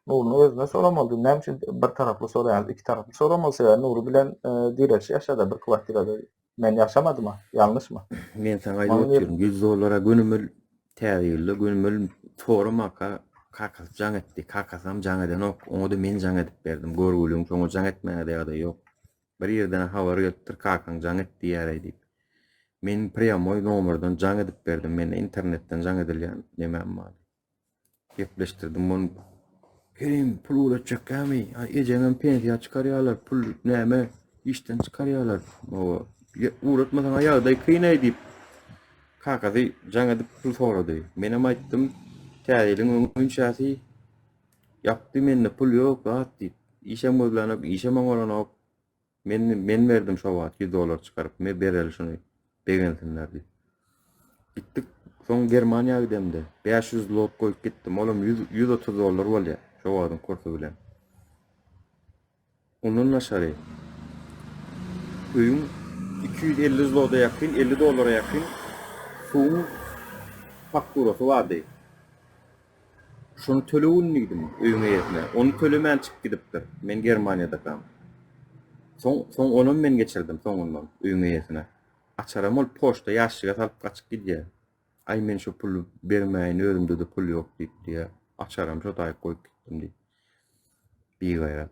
Nurynyň özünden soramalydy. Näme üçin bir taraply soraýaňyz? Iki taraply soramaly. Sebäbi Nury bilen Direç ýaşady bir kwartirada. Men ýaşamadyma, ýalňyşmy? Men saňa aýdyp otyryn, ýüz dollara gönümel, täze ýylda gönümel soramaka kakasy jaň etdi. Kakasynam jaň edenok. Oňa-da men jaň edip berdim. Görgüliň şoňa jaň etmäge-de ýagdaýy ýok. Bir ýerden-ä habar gelipdir, kakaň jaň et diýýär-eý diýip. Men prýamoý nomerden jaň edip berdim. Mende internetden jaň edilýän nemäm bar? Gepleşdirdim muny. Kerim, pul ugraçjakgami? A ejeňem pensiýa çykarýarlar, pul näme? Işden çykarýarlar. Owa, ugratmasaň ýagdaý kynaý diýip, kakasy jaň edip pul sorady. Menem aýtdym, täze ýylyň öň günçäsi ýapdy, mende pul ýok, zat diýip. Işem gözlänok, işem oňaranok. Men men berdim şo wagt ýüz dollar çykaryp, me bereli şuny, begensinler diýip. Gitdik, soň Germaniýa gidemde, bäş ýüz zlot goýup gitdim, olam ýüz, ýüz otuz dollar bolýa, şo wagtyň kursy bilen. Ondan daşary, öýüň iki ýüz elli zlota ýakyn, elli dollara ýakyn suwuň fakturasy bardy. Şony tölegin diýdim, öýüň eýesine. Ony tölemän çykyp gidipdir. Men Germaniýadakam. Soň, soň onam men geçirdim soňundan, öýüň eýesine. Açaram ol poçta ýaşşige salyp gaçyp gidýär. Aý men şo puly bermäýin, özümde-de pul ýok diýip diýýär. Açaram şo taýy goýup gitdim diýip. Bigaýrat.